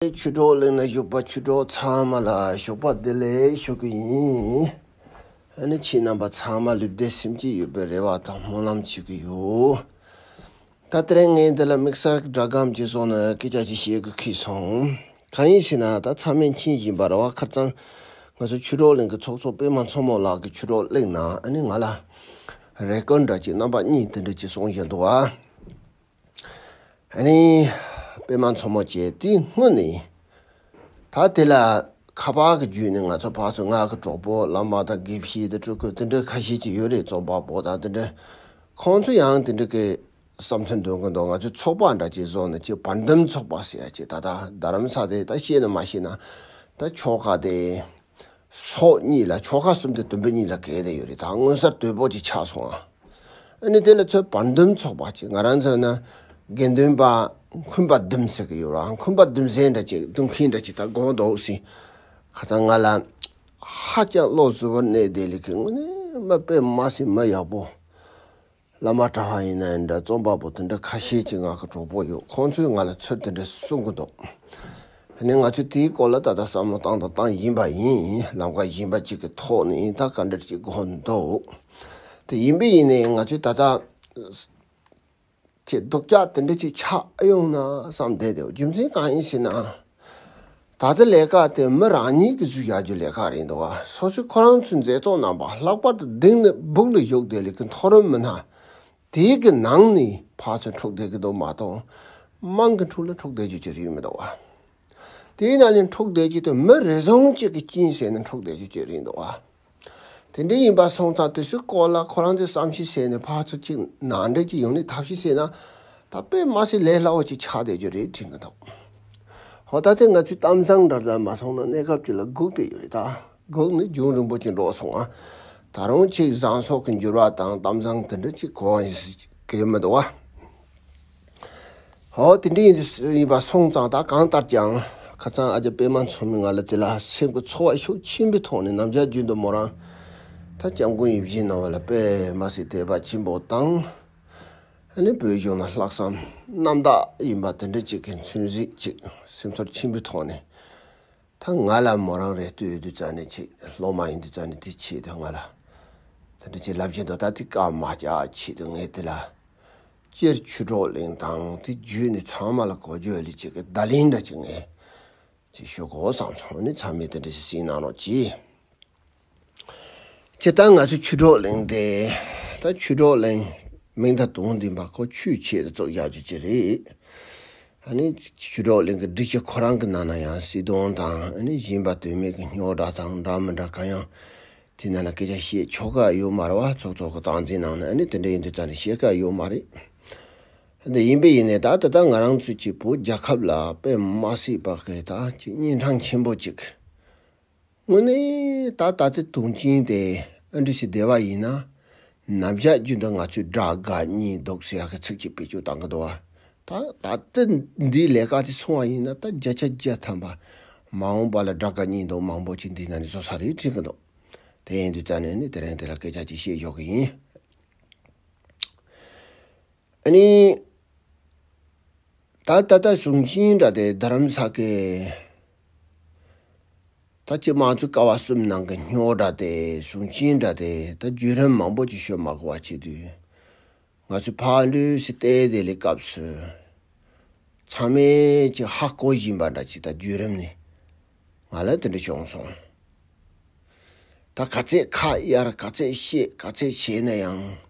ཁྱོད་ཆོས་གྲོགས་གླིང་ན་བཞུགས་པ་ཆོས་གྲོགས་ཚང་མ་ལ་ཞོགས་པ་བདེ་ལེགས་ཞུ་གི་ཡིན། ད་ནི་ཁྱེད་རྣམ་པ་ཚང་མ་ལུས་བདེ་སེམས་སྐྱིད་ཡོད་པའི་རེ་བ་དང་སྨོན་ལམ་བྱེད་ཀྱི་ཡོད། ད་དེ་རིང་ངས་འདི་ལ་དམིགས་བསལ་སྒྲ་སྒམ་གྱི་སོགས་ནས་སྐད་ཆ་ཅིག་བཤད་དགོས་ཁེལ་སོང། གང་ཡིན་ཞེ་ན་ད་ཚང་མས་མཁྱེན་བཞིན་པར་བ་ཁར་ཚང་ང་ཚོ་ཆོས་གྲོགས་གླིང་གི་ཚོགས་གཙོ་པད་མ་མཚོ་མོ་ལགས་ཀྱི་ཆོས་གྲོགས་གླིང་ནང་ནི་ང་ལ་རེ་སྐུལ་འདྲ་གཅིག་རྣམ་པ་གཉིས་དེ་འདྲ་གཅིག་གསུངས་བཞིན་འདུག་བ། ཨ་ནི། པད་མ་མཚོ་མོ་བཅས་དེ་སྔོན་ནས་ཡིན། ད་དེ་ལ་ཁ་པར་གྱི་རྒྱུད་ནས་ང་ཚོ་ཕག་ཚོའི་སྔགས་ཀྱི་གྲོགས་པོ་བླ་མ་དང་དགེ་བཤེས་དང་སྤྲུལ་སྐུ་དེ་འདྲ་ཁ་ཤས་ཅིག་ཡོད་རེད་རྩོམ་པ་པོ་དང་དེ་འདྲ། ཁོང་ཚོ་ཡང་དེ་འདྲ་གི་བསམ་ཚུལ་འདོན་གི་འདུག་ང་ཚོའི་ཚོགས་པ་འདྲ་ཅིག་བཟོ་ནས་ཅིག་བར་འདུམ་ཚོགས་པ་ཟེར་ཡ་ཅིག་ད་ད་རྡ་རམ་ས་དེ་ད་ཤེས་ན་མ་ཤེས་ན་ད་ཆོལ་ཁ་དེ། སོགས་གཉིས་ལ་ཆོ་ག་གསུམ་དུ་དོན་བོད་གཉིས་ལ་གལ་ཏེ་ཡོད་རིགས་དང་མངོན་གསར་དོད་པོ་ཅིག་ཆགས་སོང་ང། ཨ་ནི་དེ་ལ་ཚོད་བར་འདུམ་ཚོགས་པ་ཅིག་ང་རང་ཚོ་ན་དགེ་འདུན་པ་འཁུན་པ་བདུན་ཟེར་གི་ཡོད་ར་འཁུན་པ་བདུན་ཟེར་འདྲ་ཅིག་བདུན་མཁན་འདྲ་ཅིག་ད་དགོངས་འདོགས་ཟིན་ཁ་ཚང་ང་ལ་ཧ་ཅང་བློ་གཟུ་བར་གནས་བདེ་ལེགས་ཀྱི་དངོས་གནས་མ་དཔེ་མ་སྲིད་མ་ཡག་པོ། བླ་མ་གྲྭ་བ་ཡིན་ན་ཡང་འདྲ་རྩོམ་པ་པོ་དེ་འདྲ་ཁ་ཤས་ཀྱི་ངག་གི་གྲོགས་པོ་ཡོད་ཁོང་ཚོས་ང་ལ་ཚུལ་དེ་འདྲ་གསུང་གི་འདུག་དེ་ནས་ང་ཚོས་དེའི་སྐོར་ལ་ད་ལྟ་བསམ་བློ་བཏང་དང་བཏང་བཞིན་པ་ཡིན་ལམ་ཁ་ཞན་པ་གཅིག་གི་ཐོག་ནས་ཡིན་ད་ག་འདྲ་གཅིག་གོ་འདུག་དེ་ཡིན་པས་ཡིན་ན་ཡང་ང་ཚོས་ད་ལྟ་ཆེས་སྡུག་ཅག་དེ་འདྲ་གཅིག་ཆགས་ཡོང་ན་བསམ་བསྡད་དེ་རྒྱུ་མཚན་གང་ཡིན་ཞེ་ན། ད་ལྟའི་ལས་ཀ་དེ་མི་རང་ཉིད་ཀྱི་ཚུལ་བཞག་རྒྱུའི་ལས་ཀ་རེད་འདུག་སོ་སོས་ཁོ་རང་ཚོའི་མཛེས་ཐོག་རྣམ་པ་ལྷག་པར་དུ་སྡིགས་ནི་སྦུག་ལ་ཞུགས་བསྡད་ལས་ཀའི་མཐོ་རིམ་མི་སྣ་དེའི་གི་ནང་ནས་ཕར་ཚུར་འཁྲུག་བསྡད་ཀྱི་འདུག་མ་གཏོགས་དམངས་ཀྱི་འཁྲུག་ལ་འཁྲུག་བསྡད་རྒྱུ་ཅི་རིགས་མི་འདུག་དེའི་ནང་ནས་འཁྲུག་བསྡད་རྒྱུ་དེ་མི་རེ་ཟུང་གཅིག་གི་སྐྱིན་ཟེར་ནས་འཁྲུག་བསྡད་རྒྱུ་ཅི་རིགས་འདུག་དེ་འདྲ་ཡིན་པ་སོང་ཙང་དུས་ཚོད་སྐོར་ལ་ཁོ་རང་ཚོས་བསམ་ཤེས་བྱས་ནས་ཕར་ཚུར་གཅིག་ནང་འགྲེལ་གྱི་ཡོང་ནས་ཐབས་ཤེས་བྱས་ན་ད་དཔེ་དམའ་སའི་ལས་སླ་བོ་ཅིག་ཆགས་བསྡད་རྒྱུ་རེད་དྲིས་མི་འདུག་ཧོ་ད་ལྟའི་ང་ཚོའི་གཏམ་བཟང་འདྲ་ཙམ་མ་སོང་ན་གནས་སྐབས་ཅིག་ལ་སྒུག་བསྡད་ཡོད་རེད་ད་སྒུག་ནི་རྒྱུན་རིང་པོ་ཅིག་འགྲོ་སོང་ང་ད་རུང་ཆེས་བཟང་སོགས་ཀྱི་འགྱུར་བ་དང་གཏམ་བཟང་དེ་འདྲ་ཅིག་གོ་བ་ཞིག་གི་ཡོད་མི་འདུག་བ། ཨོ། དེ་འདྲ་ཡིན་ཡིན་པ་སོང་ཙང་ད་གང་ལྟར་ཀྱང་ཁ་ཚང་ཨ་ཅག་པད་མ་མཚོ་མོས་ང་ལ་དེ་ལ་སེམས་ཀྱི་ཚོར་བ་ཤུགས་ཆེན་པོའི་ཐོག་ནས་ནམ་ཞར་རྒྱུན་དུ་མོ་རང་ད་སྐྱབས་མགོན་ཡིད་བཞིན་གནང་བ་ལ་པད་མ་སྲིད་དེ་བ་ཆེན་པོ་དང། ཨ་ནི་བོད་གཞུང་ལ་ལྷག་བསམ་རྣམ་དག་ཡིན་པ་དེ་འདྲ་ཅིག་གི་མཚོན་གཟིགས་ཅིག་སེམས་ཚོར་ཆེན་པོའི་ཐོག་ནས་ད་ང་ལ་མོ་རང་རེ་ལྟོས་ཡོད་དུས་རྩ་ནས་ཆེད་སློབ་མ་ཡིན་དུས་རྩ་ནས་དེ་ཆེད་དུ་ང་ལ་དེ་འདྲ་ཅིག་ལབ་བཞིན་འདུག་ད་དེ་སྐར་མ་བརྒྱ་ཆེད་དུ་ངས་དེ་ལ་སྤྱིར་ཆུ་གྲོག་གླིང་དང་དེ་བརྒྱུད་ནས་ཚང་མ་ལ་གོ་རྒྱུ་ལས་གཅིག་གདའ་གླིང་འདྲ་གཅིག་མེད། ཅེས་ཤོད་གོ་བསམ་སོང་ནི་ཚང་མས་དེ་འདྲ་ཞིག་གཟིགས་གནང་རོགས་གྱིས། ཁྱེད་ལྟར་ང་ཚོས་ཆུ་གྲོག་གླིང་དེ་ད་ཆུ་གྲོག་གླིང་མིང་ད་དུང་འདི་འབའ་ཁོ་ཆུའི་ཆེད་དུ་བཙུགས་རྒྱག་རྒྱུ་ཅི་རེད། ཨ་ནི། ཆུ་གྲོག་གླིང་གི་སྒྲིག་ཆས་ཁོ་རང་གི་ནང་ན་ཡང་བསིལ་གདུང་དང་ཨ་ནི་བཞིན་པ་དོན་མེད་ཀྱི་རྙོག་དྲ་དང་འདྲ་མི་འདྲ་གང་ཡང་དེ་ན་ན་སྐད་ཆ་བཤད་ཆོག་ག་ཡོད་མ་རེད་བ་ཚོགས་ཚོགས་ཀྱི་སྟངས་འཛིན་ནང་ན་ནི་དེ་འདྲ་ཡིན་དུས་ཙང་ནས་བཤད་ག་ཡོད་མ་རེད་དེ་ཡིན་པས་ཡིན་ནས་ད་ད་ལྟ་ང་རང་ཚོས་ཀྱི་བོད་རྒྱལ་ཁབ་ལ་དཔེ་མ་སྲིད་པ་གས་ད་ཀྱི་གཉན་འཕྲང་ཆེན་པོ་ཅིག་དངོས་གནས་ད་ད་ལྟའི་དུང་ཅིང་དེ་ཨ་འབྲི་ཞིག་བདེ་བ་ཡིན་ན་རྣམ་གཞག་རྒྱུད་འདི་ང་ཚོས་དགྲ་དགའ་གཉིས་ལྡོག་ཟེར་ཡག་གི་ཚིག་གཅིག་བེད་སྤྱོད་བཏང་གི་འདུག་བ། ད་ད་ལྟ་འདིའི་ལས་ཀ་དེ་སོང་བ་ཡིན་ན་ད་བརྒྱ་ཆ་བརྒྱ་ཐམ་པ་མ་འོངས་པ་ལ་དགྲ་དགའ་གཉིས་ལྡོག་མང་པོ་ཅིག་འདིའི་ནང་ནས་བཟོ་ས་རེད་དྲན་གི་འདུག་དེ་ཡིན་དུས་རྩ་ནས་ནི་དེ་རིང་དེ་ལ་སྐད་ཆ་གཅིག་བཤད་ཞོག་གི་ཡིན། ཨཱ་ནི། ད་ལྟ་གཟུང་འཛིན་འདྲ་སྟེ་རྡ་རམ་ས་ཀའི། ད་ཅི་དམངས་གཙོའི་ཀ་བ་གསུམ་ནང་གི་སྨྱོ་འདྲ་སྟེ་གཟུང་འཛིན་འདྲ་སྟེ་ད་བརྒྱུད་རིམ་མང་པོ་ཅིག་ཤོད་མ་གོ་བ་བྱེད་དུས། ང་ཚོའི་ཕ་ལུའི་སི་ཏའི་དེ་ལས་སྐབས་སུ། ཚང་མས་ཅིག་ཧ་གོ་བཞིན་པ་འདྲ་ཅིག་ད་བརྒྱུད་རིམ་ནས་ང་ལ་དེ་འདྲ་བྱུང་སོང། ད་ག་ཚད་ཁ་གཡར་ག་ཚད་བཤད་ག་ཚད་བྱས་ན་ཡང།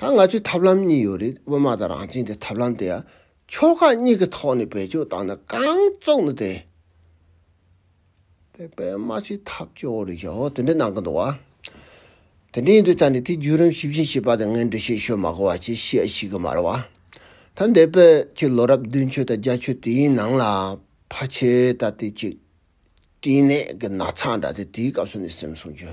ད་ང་ཚོའི་ཐབས་ལམ་གཉིས་ཡོད་རེད་དབུ་མ་དང་རང་བྱན་གྱི་ཐབས་ལམ་དེ་ཡང་ཕྱོགས་ཁག་གཉིས་ཀྱི་ཐོག་ནས་བེད་སྤྱོད་བཏང་ན་གང་བཙུགས་ནི་དེ། དེ་པད་མ་ཆེ་ཐབས་སྐྱོ་རེད་ཞོ་དེ་འདྲས་གནང་གི་འདུག་བ། དེ་འདྲས་ཡིན་དུས་ད་ནི་དེ་བརྒྱུད་རིམ་ཞིབ་བཞིན་བྱེད་པ་དེ་ངས་འགྲེལ་བཤད་ཤོད་མ་གོ་བ་ཅི་བཤད་ཤེས་གི་མ་རེད་བ། ད་འདས་པའི་ཕྱི་ལོ་རབས་བདུན་ཆོས་དང་རྒྱ་ཆོས་དེའི་ནང་ལ་ཕ་ཆེ་ད་དེ་ཅིག་བཀྲིས་ནད་ཀྱི་ན་ཚ་འདྲ་དེ་དེའི་སྐབས་སུ་ནས་སེམས་སྲུང་རྒྱུ་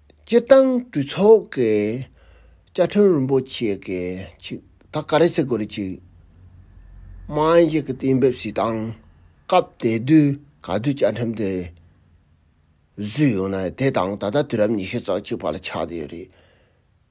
སྤྱིར་བཏང་གྲོས་ཚོགས་ཀྱི་བཅའ་ཁྲིམས་རིན་པོ་ཆེ་གི་ཆིག་ཐག་ཀ་རེ་སེ་གོ་རེ་ཆིག་མང་ཞིག་གི་གཏན་འབེབས་བྱེད་སྟངས་སྐབས་དེ་དུས་ག་དུས་བཅའ་ཁྲིམས་དེ་བཟོས་ཡོང་ན་དེ་དང་ད་ལྟ་དུས་རབས་ཉི་ཤུ་རྩ་གཅིག་བར་ལ་ཆགས་བསྡད་ཡོད་རེད།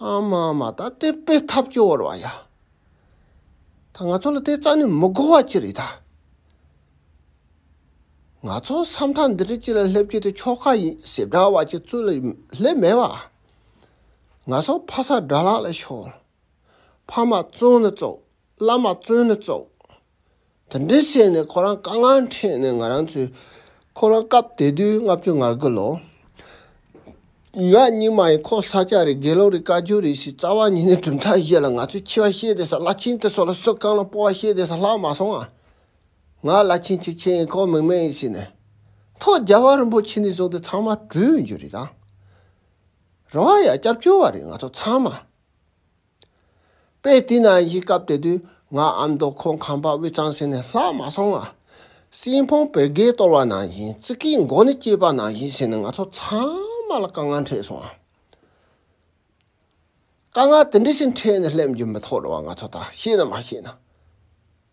ཨམ་མ་མ་ད་དེ་དཔེ་ཐབས་སྐྱོ་བོར་བ་ཡ། ད་ང་ཚོ་ལ་དེ་རྩ་ནས་མི་གོ་བ་ཅི་རེད་ད། ང་ཚོ་ས་མཐའ་འདི་རིགས་ཅི་ལ་སླེབས་རྒྱུ་དེ་ཆོལ་ཁ་ཡིན་ཟེར་འདྲ་བ་ཅིག་ཙུ་ལ་སླེབས་མེད་བ། ང་ཚོ་ཕ་ས་དགྲ་ལག་ལས་ཤོར། ཕ་མ་བཙོན་ལ་བཙུགས་བླ་མ་བཙོན་ལ་བཙུགས། དེ་འདྲའི་བཤད་ནས་ཁོ་རང་དཀའ་ངལ་འཕྲད་ནས་ང་རང་ཚོས་ཁོ་རང་སྐབས་དེ་དུས་ལྔ་བཅུ་ང་དགུ་ལོ། ང་གཉིས་མ་ཡིན་ཁོ་ས་སྐྱ་རེད་དགེ་སློང་རེད་བཀའ་བརྒྱུད་རེད་ཞེས་རྩ་བ་ཉིད་ནས་གྲུབ་མཐའ་བཞེས་ལ་ང་ཚོས་འཆི་བ་བཤད་བསྡད་ས་བླ་ཆེན་དེ་སོགས་ལ་གསོལ་བསྐང་ལ་སྤོ་བ་བཤད་བསྡད་ས་ལྷག་མ་སོང་ང། ང་བླ་ཆེན་ཆིག་ཆེན་ཡིན་ཁོ་མིག་སྨན་ཡིན་ཟེར་ནས། ཐོག་རྒྱལ་བ་རིན་པོ་ཆེ་ནས་བཟུང་སྟེ་ཚང་མ་གྲོས་འགྱུར་རེད་དང། རེ་བ་ཡང་སྐྱབས་བཅོལ་བ་རེད་ང་ཚོ་ཚང་མ། དཔེ་དེ་ནང་བཞིན་སྐབས་དེ་དུས་ང་ཨ་མདོ་ཁོང་ཁང་པ་དབུས་གཙང་ཟེར་ནས་ལྷག་མ་སོང་ང། སྲིན་ཕུང་བོད་རྒྱལ་གཏོར་བ་ནང་བཞིན་ཙི་ཀིའི་མགོ་ནས་སྐྱེས་པ་ནང་བཞིན་ཟེར་ནས་ང་ཚོ་ཚང་མ་ལ་དཀའ་ངལ་འཕྲད་སོང་ང། དཀའ་ངལ་དེ་འདྲ་ཞིག་འཕྲད་ནས་སླེབས་རྒྱུ་མི་ཐོག་རེ་བ་ང་ཚོ་ད་ཤེས་ན་མ་ཤེས་ན།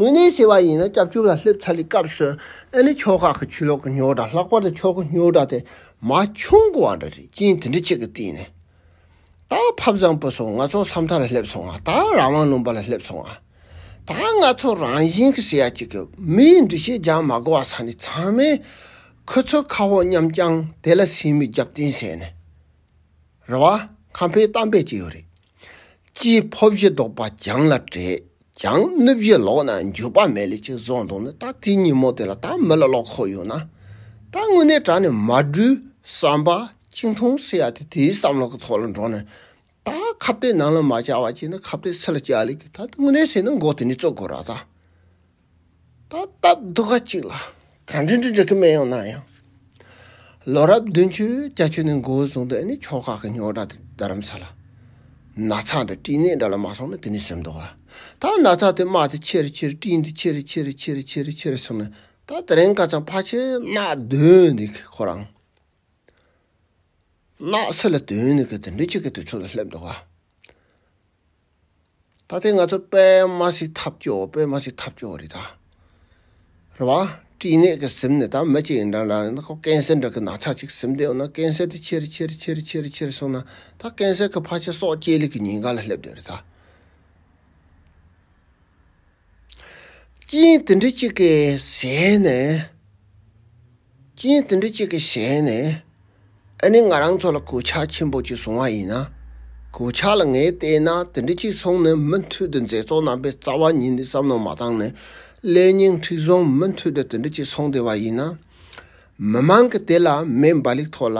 དངོས་གནས་བྱས་པ་ཡིན་ན་སྐྱབས་བཅོལ་ལ་སླེབས་ཚར་བའི་སྐབས་སུ་ཨ་ནི་ཁྱོ་ག་གི་ཆུ་ལོག་གི་རྙོག་གྲ་ལྷག་པར་དུ་ཁྱོ་གའི་རྙོག་གྲ་དེ་མ་བྱུང་དགོས་བ་འདྲ་རེད་རྐྱེན་དེ་འདྲ་གཅིག་གི་སྟེང་ནས་ད་ཕབ་བཟང་པོ་སོང་ང་ཚོ་ས་མཐའ་ལ་སླེབས་སོང་ང་ད་རང་དབང་ལུང་པ་ལ་སླེབས་སོང་ང་ད་ང་ཚོ་རང་བཞིན་གྱི་སེ་ཡ་གཅིག་གི་མིའི་འདུ་ཤེས་སྦྱང་མ་དགོས་བ་ས་ནི་ཚང་མས་ཁོ་ཚོའི་ཁ་བོ་མཉམ་བསྐྱང་དེ་ལ་སེམས་མི་རྒྱབ་བརྟེན་བྱས་ནས་རེད་བ། ཁམས་པའི་གཏམ་དཔེ་གཅིག་ཡོད་རེད། ཅེས་འཕོ་བཞི་བཟློག་པ་སྦྱངས་ལ་བྲེད་ཀྱང་སྣོད་བཞི་ལོག་ན་འགྱོད་པ་མེད་ལས་ཅེས་གསུངས་འདུག་ན་ད་དེ་ཉིན་མོ་དེ་ལ་ད་མི་ལ་ལོག་ཁོག་ཡོད་ན། ད་དངོས་གནས་དྲ་ནས་མ་སྦྲུལ་བསམ་པ་གཅིག་མཐོང་སེ་ཡ་དེ་དེའི་བསམ་བློ་གི་ཐོག་ལ་འགྲོ་ནས། ད་ཁ་བརྡའི་ནང་ལ་མ་བཅར་བ་ཅིག་ནི་ཁ་བརྡའི་ཚིག་ལ་བཅར་ལེ་གི་ད་དངོས་གནས་ཟེར་ན་མགོ་དེ་ནས་བཙུགས་དགོས་ར་ད། ད་ལྟ་སྡུག་ཁ་ཅིག་ལ་གང་འགྲིག་འགྲིག་འགྲིག་གི་མི་ཡོང་ན་ཡང། ལོ་རབས་བདུན་ཅུའི་རྒྱ་ཆེ་ནས་མགོ་བོ་བཟུང་དུས་ནི་ཕྱོགས་ཁག་གི་རྙོག་དྲ་དང་རྡ་རམ་ས་ལ། ན་ཚ་དང་སྤྲིན་ནད་འདྲ་ལ་མ་སོང་ན་དེ་ནི་སེམས་དོག་ལ། ད་ན་ཚ་དེ་དམག་དེ་ཁྱེར་ཁྱེར་སྤྲིན་དེ་ཁྱེར་ཁྱེར་ཁྱེར་ཁྱེར་ཁྱེར་སོང་ནས་ད་དེ་རིང་ཀ་ཅང་ཕ་ཆེ་ནག་སྡོད་འདི་གི་ཁོ་རང། ནག་སེ་ལ་སྡོད་འདི་གི་དེ་འདྲ་ཅིག་གི་དུས་ཚོད་ལ་སླེབས་འདུག་ག། ད་ཐེངས་ང་ཚོ་པདྨ་སི་ཐབ་སྐྱོ་པདྨ་སི་ཐབ་སྐྱོ་རེད་ད། རེད་བ། བཀྲིས་ནད་ཀྱི་སེམས་ནད་ད་མི་གཅིག་ཡིན་འདྲ་འདྲ་ཡིན་ཁོ་ཀན་སེ་འདྲ་གི་ན་ཚ་ཅིག་སེམས་སྡེ་ཡོང་ན་ཀན་སེ་དེ་ཁྱེར་ཁྱེར་ཁྱེར་ཁྱེར་ཁྱེར་སོང་ན་ད་ཀན་སེ་གི་ཕ་ཆེ་སྲོག་སྐྱེས་ལས་ཀྱི་ཉིན་ག་ལ་སླེབས་འདོད་རེད་ད། ཅིའི་དེ་འདྲ་གཅིག་གི་ཞལ་ནས། ཅིའི་དེ་འདྲ་གཅིག་གི་ཞལ་ནས། ཨ་ནི་ང་རང་ཚོ་ལ་གོད་ཆག་ཆེན་པོ་གཅིག་བཟུང་བ་ཡིན། གོད་ཆག་ལ་ངས་བལྟས་ན་དེ་འདྲ་གཅིག་སོང་ནས་མུ་མཐུད་དུ་མཛེས་ཚོགས་རྣམ་པའི་རྩ་བ་ཉིད་འདི་བསམ་བློ་མ་བཏང་ནས་ཀླད་རྙིང་མཁྲིག་བཟུང་མུ་མཐུད་དུ་དེ་འདྲ་གཅིག་སོང་བསྡད་པ་ཡིན། མི་མང་གི་དེ་ལ་མེ་འབར་ལིག་ཐོག་ལ་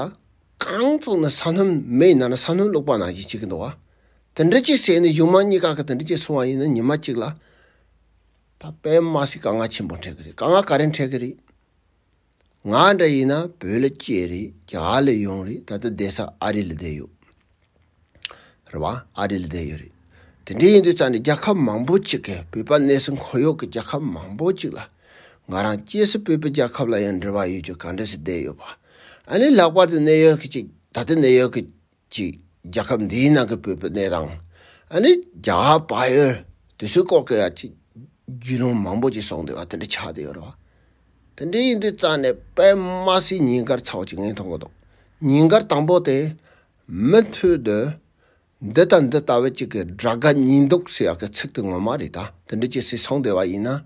རྐང་བཙུགས་ནས་ས་སྣུམ་མེ་ཡི་ནང་ན་ས་སྣུམ་བླུགས་པ་ནང་བཞིན་བྱེད་ཀྱི་འདུག། དེ་འདྲ་གྱི་ཟས་ནི་གཞུང་མང་གཉིས་ཀ་གི་དེ་འདྲ་གྱི་སོང་བ་ཡིན་ན་ཉི་མ་གཅིག་ལ་ད་པད་མ་སི་ཀ་ང་ཆེན་པོ་འཕྲད་གི་རེད་དཀའ་ངལ་ག་རེ་འཕྲད་གི་རེད། ང་འདྲ་ཡིན་ན་བོད་ལ་སྐྱེས་རེད་རྒྱ་གར་ལས་ཡོང་རེད་ད་ལྟ་བསྡད་ས་ཨ་རི་ལ་བསྡད་ཡོད་རེད་བ་ཨ་རི་ལ་བསྡད་ཡོད་རེད་དེ་འདྲ་ཡིན་དུས་ཙང་ནས་རྒྱལ་ཁབ་མང་པོ་གཅིག་གི་བོད་པ་གནས་སུ་འཁོར་ཡོད་གི་རྒྱལ་ཁབ་མང་པོ་གཅིག་ལ་ང་རང་སྐྱེས་སུ་བོད་པའི་རྒྱལ་ཁབ་ལ་ཡང་འབྲེལ་བ་ཡོད་ཀྱི་ག་འདྲ་སི་བསྡད་ཡོད་བ་ཨ་ནི་ལྷག་པར་དུ་ནེའུ་ཡོར་ཀི་གཅིག་ད་ལྟ་ནེའུ་ཡོར་ཀི། གཅིག་རྒྱལ་ཁབ་འདིའི་ནང་གི་བོད་པའི་གནས་སྟངས་ཨ་ནི་རྒྱ་བ་བ་ཡོད་དུས་ཚོད་སྐོར་གི་ཡ་ཅིག་རྒྱུས་ལོང་མང་པོ་ཅིག་སོང་དུས་བ་དེ་འདྲ་ཆགས་དུས་ཡོད་རེད་བ། དེ་འདྲ་ཡིན་དུས་རྩ་ནས་པདྨ་སི་ཉིན་དཀར་ཚ་བ་ཅིག་ངས་མཐོང་གི་འདུག་ཉིན་དཀར་དང་པོ་དེ་མི་མཐུད་དུ་འདི་དང་འདི་ལྟ་བུ་ཅིག་གི་དགྲ་དགའ་གཉིས་འདུག་ཟེར་ཡག་གི་ཚིག་དེ་ངོ་མ་རེད་ད་དེ་འདྲ་ཅིག་སི་སོང་དུས་བ་ཡིན་ན།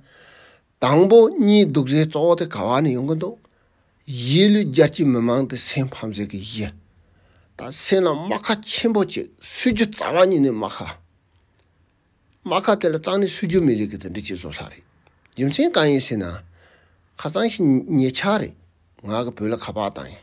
དང་པོ་གཉིས་སྡུག་བཟའི་གཙོ་བོ་དེ་ག་བ་ནས་ཡོང་གི་འདུག་གཞིས་ལུས་རྒྱ་ཆེའི་མི་མང་དེ་སེམས་ཕམ་བཟོས་ཀི་གཞི་ད་སེམས་ལ་རྨ་ཁ་ཆེན་པོ་ཅིག་སུས་རྒྱུ་རྩ་བ་ཉིད་ནས་རྨ་ཁ། རྨ་ཁ་དེ་ལ་གཙང་ནས་སུས་རྒྱུ་མི་རིགས་ཀི་དེ་འདི་གཅིག་བཟོ་ས་རེད་རྒྱུ་མཚན་གང་ཡིན་ཟེར་ན་ཁ་གཙང་ཞིང་ཉེ་ཆ་རེད་ང་གི་བོད་ལ་ཁ་བག་དང་ཡིན།